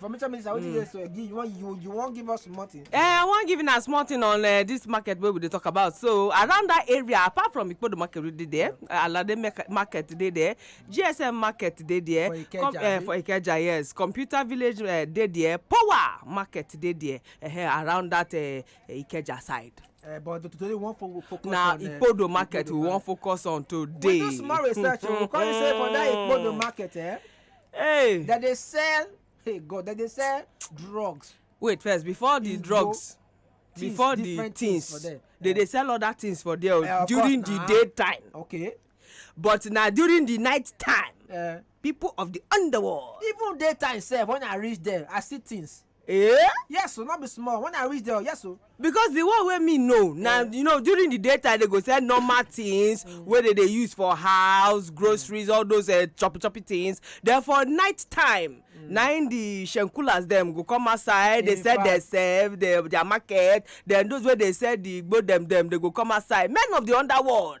information minister wetin dey so give you wan you you wan give us small thing. Eh, i wan give una small thing on uh, this market wey we dey talk about so around that area apart from ikpodo market wey dey there alade market dey there gsm market dey there for ikeja, Com uh, for ikeja yes computer village uh, dey there power market dey there uh, around that uh, ikeja side. Uh, but today we wan focus on na uh, ikpodo market we wan focus on today. we do small research o oh. we come say for that ikpodo market. Eh? hey dem dey sell hey god dem dey sell drugs wait first before the drugs things, before the things, for them. they dey sell other things for there uh, during course, the uh, day time okay but na during the night time uh, people of the underworld even daytime sef when i reach there i see things Eh? Yes, o, no be small. When I reach there, yes, o. because the one wey me know na you know during the daytime they go sell normal things wey they dey use for house groceries all those uh, choppy choppy things then for night time mm. na im the shenkulas dem go come outside dey sell their self their their market then those wey dey sell the igbo dem dem dey go come outside men of the underworld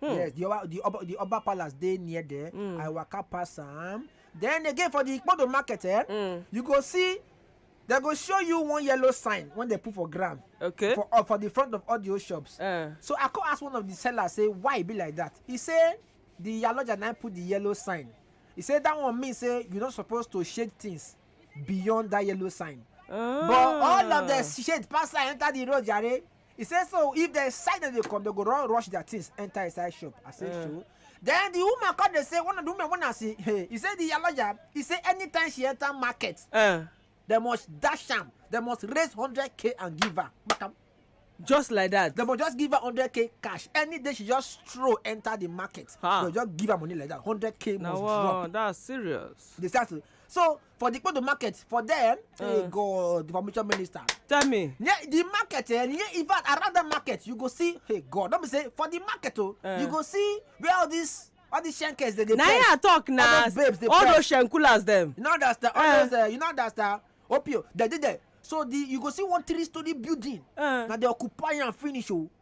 Hmm. Yes, the Oba, the Oba, the Oba Palace dey near there. Hmm. I waka pass am. Then again for the Ikpodo market, eh, hmm. you go see they go show you one yellow sign when they put for ground okay for uh, for the front of audio shops uh. so i come ask one of the sellers say why e be like that he say the yaloja na put the yellow sign he say that one mean say you no suppose to shade things beyond that yellow sign. Oh. but ah. all of the shade pass enter the road jare He say so if dem sight dem dey come, dem go run rush their things enter inside shop. I say Eh. so. Then the woman come dey say one of the women when I see hey, he say the yalaja, he say anytime she enter market, Eh, they must dash am, they must raise hundred k and give her. Makam. just like that. They must just give her hundred k cash. Any day she just stroll enter the market, Ah. they just give her money like that. Hundred k na must drop. wow that's serious. They start to so for the Kpodo market for there. Uh. Hey God, the information minister. Tell me. Yeah, the market, eh, yeah, in fact, around the market, you go see, hey God, don't be say, for the market, oh, uh. you go see where all these all these shankers they dey na here i talk na all those babes dey all those shankulas dem you know understand all eh. those uh, you know understand opio dem dey there so the you go see one three story building uh. na dey occupy am finish o. Oh.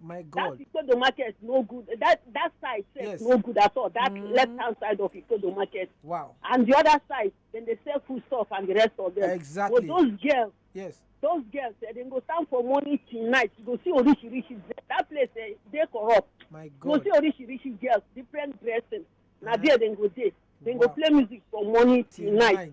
my that god Ikodo market no good. That that side sef Yes. no good at all. That Mm. left hand side of Ikodo market wow and the other side dem dey sell food stuff and the rest of them. But exactly those girls yes those girls eh, dem go stand for morning till night you go see orishirishi dress that place eh, dey corrupt my you go god see orishirishi girls different dressing na Ah. there dem go dey dem go Wow. play music from morning till night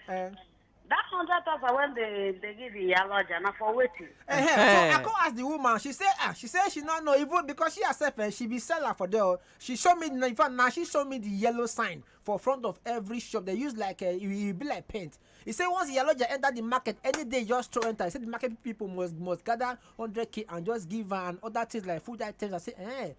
Eh. that hundred thousand when they they give the yaloja na for wetin. Uh -huh. so eh. i come ask the woman she say ah she say she no know even because she herself eh, she be seller for there she show me in fact na she show me the yellow sign for front of every shop they use like uh, e be like paint He said once Iyaloja enter the market, any day just throw enter. He said the market people must must gather 100k and just give her and other things like food items. I say, eh,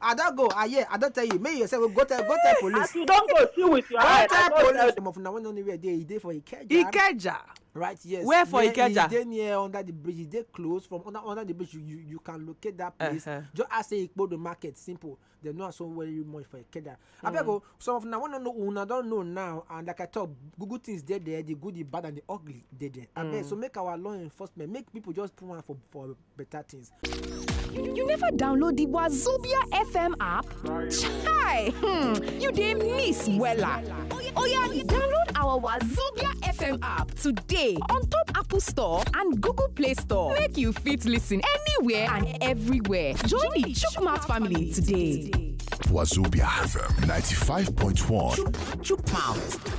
I don go, I hear, I don tell you, make you yourself go, go tell, go tell police. As you don go, see with your Go eye. I tell don police. tell Some of una wey no know where e dey, e dey for Ikeja. Ikeja. Right, yes. Where for Near- Ikeja? E dey near under the bridge, e dey close from under under the bridge, you you, you can locate that place. Uh-huh. Just ask say Ikpodo market, simple. Dem know am so very much for Ikeja. Abeg o, some of una wey no know, una don know now, and like I talk, Google things dey there, the good, the bad and the ugly dey there. Abeg, so make our law enforcement, make people just put am for for better things. You never download the Wazobia FM app? Chai! Hmm, you dey miss wella. Oya, download our Wazobia FM app today on top Apple Store and Google Play Store. Make you fit listen anywhere and everywhere. Join the Chukmat family today. Wazobia FM 95.1. Chukmouth.